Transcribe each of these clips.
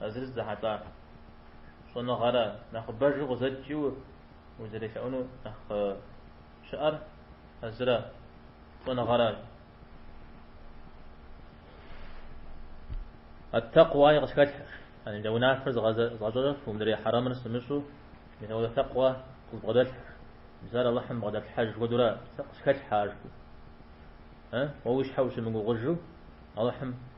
А зыр зыдыхьэлӏа щӏэныгъэра нэхъыбэжу къызэт жи узэрелъэӏуну нэхъ щыӏэр а зыра щӏэныгъэращ. Ат-такъуай къысхэлъхьэ, адэ унафэр згъэзащӏэу мыдрей хьэрэмыр сымыщӏу мисауэ такъуэ къызбгъэдэлъхьэ, мис ар Алыхьым бгъэдэлъхьэж хуэдэурэ сэ къысхэлъхьэ ар жыпӏэу. Уэ уи щхьэ ущымыгугъыжу Алыхьым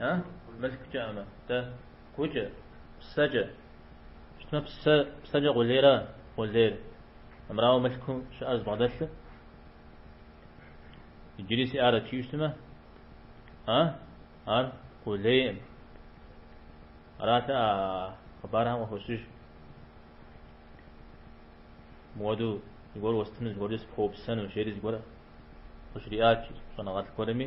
А? Мылъкукӏэӏым. Нтӏэ? Гукӏэ. Псэкӏэ. Щытмэ, псэ, псэкӏэ къулейра къулейр. Амрауэ мылъкум щыӏэр збгъэдэлъу? Иджыри сиӏарэт жиӏэу щытмэ? А? Ар къулейкъым. Ара тӏэ а хъыбархэм къыхощыж. Муэду зыгуэр уэстыну, зыгуэркӏэ сыпхуэупсэну, жери зыгуэр къыжриӏат щӏэныгъэлӏ гуэрми.